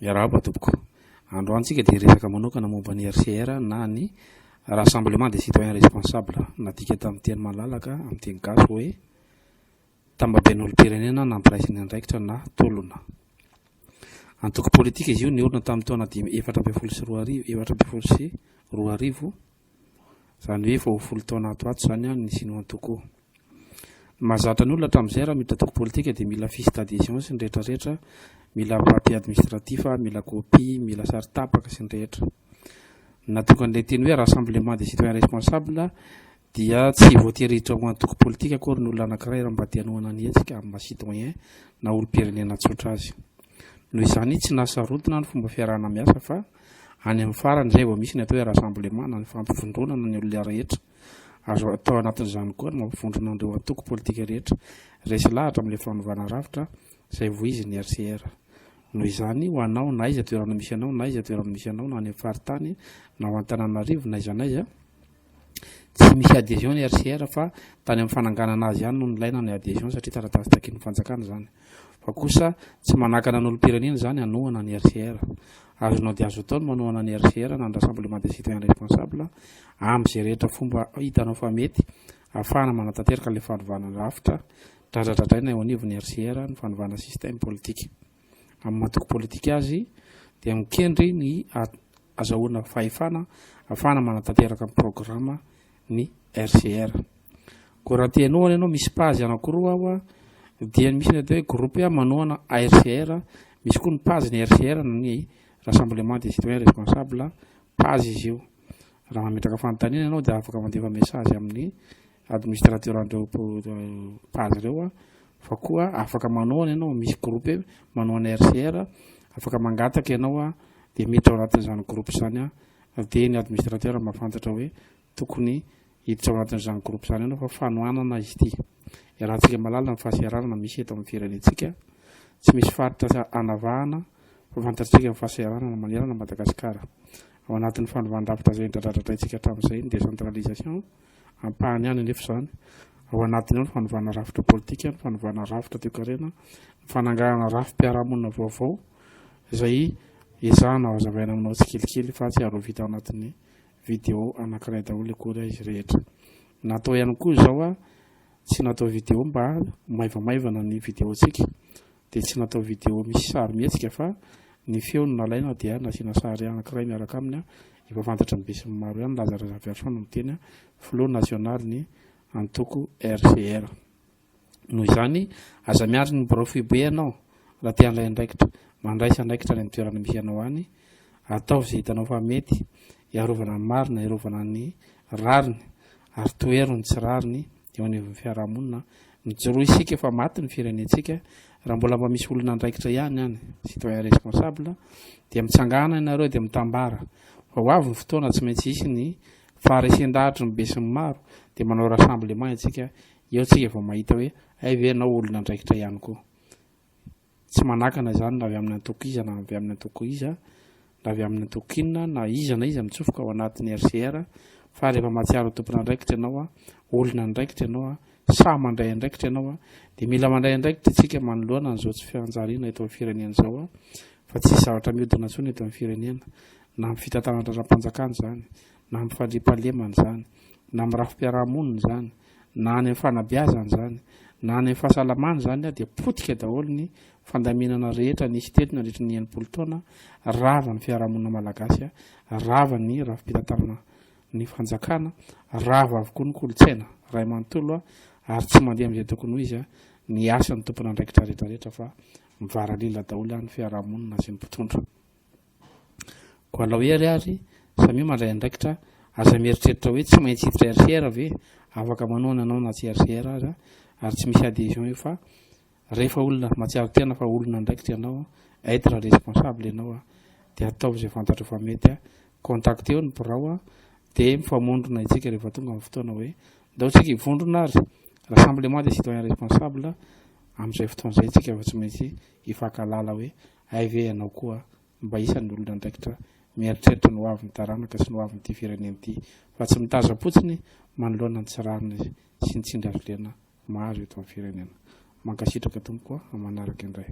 Miarahaba tompoko. Androany tsika dia hiresaka manokana momba ny RCR na ny Rassemblement des Citoyens Responsables, nadika tamin'ny teny malalaka amin'ny teny gasy hoe tambaben'olom-pirenena nampiraisin'ny andraikitra na tolona. Antoko politika izy io niorina tamin'ny taona dimy efatra ambin'ny folo sy roa arivo, efatra ambin'ny folo sy roa arivo, Izany hoe vao folo taona ato ato izany an, ny Sinoa Antoko. Ny mahazatra ny olona hatramin'izay raha miditra antoko politika dia mila fiche d'adhesion sy ny rehetra rehetra, mila papier administratif, mila copie, mila sary tapaka sy ny rehetra. Ny nahatonga an'ilay teny hoe rassemblement des citoyens responsables dia tsy voatery hiditra ho antoko politika akory ny olona anankiray raha mba te hanohana ny hetsika amin'ny maha citoyen na olom-pirenena tsotra azy. Noho izany tsy nahasarotana ny fomba fiarahana miasa fa. Any amin'ny farany izay vao misy ny atao hoe rassemblement na ny fampivondronana ny olona rehetra. Azo atao anatin'izany koa ny mampivondrona an'ireo antoko politika rehetra. Resy lahatra amin'ilay fanovana rafitra izay voizin'ny RCR. Noho izany, ho anao, na aiza toerana misy anao, na aiza toerana misy anao, na any amin'ny faritany, na ao Antananarivo, na aiza na aiza, Tsy misy adhesion ny RCR fa tany amin'ny fananganana azy ihany no nilaina ny adhesion satria taratasy takian'ny fanjakana izany. Fa kosa tsy manakana ny olom-pirenena izany hanohana ny RCR. Azonao dia azo atao ny manohana ny RCR na ny Rassemblement des Citoyens Responsables amin'izay rehetra fomba hitanao fa mety hahafahana manatanteraka ilay fanovana rafitra dradradradraina eo anivon'ny RCR ny fanovana système politique. amin'ny maha antoko politika azy dia mikendry ny azahoana fahefana afahana manatanteraka ny programa ny RCR. Koa raha te hanohana ianao misy pazy anankiroa ao dia misy ny atao hoe groupe manohana ARCR, misy koa ny pazy ny RCR ny Rassemblement des citoyens responsables, pazy izy io. Raha mametraka fanontaniana ianao dia afaka mandefa message amin'ny administrateur'andreo page ireo fa koa afaka manohana ianao misy groupe manohana RCR afaka mangataka ianao dia mety ao anatin'izany groupe izany dia ny administrateur mahafantatra hoe tokony hiditra ao anatin'izany groupe izany ianao fa fanohanana izy ity iarahantsika malalina ny fahasahiranana misy eto amin'ny firenentsika tsy misy faritra anavahana fa fantatsika ny fahasahiranana manerana Madagasikara ao anatin'ny fanovàn-drafitra izay dradradradraintsika hatramin'izay ny décentralisation Ampahany ihany anefa izany. Ao anatiny ao ny fanovana rafitra politika, ny fanovana rafitra toekarena, ny fananganana rafi-piarahamonina vaovao izay ezahana hazavaina aminao tsikelikely fa tsy ary ho vita ao anatin'ny video anankiray daholo akory izy rehetra. Natao ihany koa izao, tsy natao video mba maivamaivana ny videontsika dia tsy natao vidéo misy sarimihetsika fa ny feo no nalaina dia nasiana sary anankiray miaraka aminy, efa fantatry ny besinimaro ihany, Laza Razafiarison no miteny, filoha nasionalin'ny antoko RCR. Noho izany, aza miandry ny birao foibe ianao raha te handray andraikitra. Mandraisa andraikitra any amin'ny toerana misy anao any, ataovy izay hitanao fa mety hiarovana ny marina, hiarovana ny rariny. ary tohero ny tsy rariny eo anivon'ny fiarahamonina. Mijoroa isika fa maty ny firenentsika, raha mbola mba misy olona andraikitra ihany any, citoyen responsable, dia mitsangàna ianareo dia mitambara fa ho avy ny fotoana tsy maintsy hisy ny faharesen-dahatry ny besinimaro, dia manao rassemblement isika, eo isika vao mahita hoe hay ve ianao olona andraikitra ihany koa. Tsy manakana izany na avy amin'ny antoko iza na avy amin'ny antoko iza, na avy amin'ny antoko inona, na iza na iza mitsofoka ao anatin'ny RCR, fa rehefa mahatsiaro ho tompon'andraikitra ianao, olona andraikitra ianao, sahy mandray andraikitra ianao, dia mila mandray andraikitra isika manoloana an'izao tsy fifanjariana eto amin'ny firenena izao, fa tsisy zavatra mihodina intsony eto amin'ny firenena, na amin'ny fitantanana andraraham-panjakana izany, na amin'ny fandriampahalemana izany, na amin'ny rafi-piarahamonina izany, na any amin'ny fanabeazana izany na any amin'ny fahasalamana izany ary dia potika daholo ny fandaminana rehetra nisy teto nandritra ny enimpolo taona rava ny fiarahamonina malagasy rava ny rafi-pitantanana ny fanjakana rava avokoa ny kolontsaina ray manontolo ary tsy mandeha amin'izay tokony ho izy ny asan'ny tompon'andraikitra rehetra rehetra fa mivaralila daholo any fiarahamonina sy ny mpitondra Koa anao Hery ary, samia mandray andraikitra, aza mieritreritra hoe tsy maintsy hiditra RCR ve? Afaka manohana anao na tsy RCR aza ary tsy misy adhesion io fa rehefa olona matsiaro tena fa olona andraikitra ianao, être responsable ianao dia ataovy izay fantatrao fa mety, contacteo ny birao dia mifamondrona isika rehefa tonga ny fotoana hoe ndao isika hivondrona ary, rassemblement des citoyens responsables, amin'izay fotoana izay isika vao tsy maintsy hifankahalala hoe Hay ve ianao koa mba isan'ny olona andraikitra mieritreritra ny ho avin'ny taranaka sy ny ho avin'ity firenena ity fa tsy mitazam-potsiny manoloana ny tsy rariny sy ny tsindrin-dRlena maro eto amin'ny firenena. Mankasitraka tompoko a! Manaraka indray.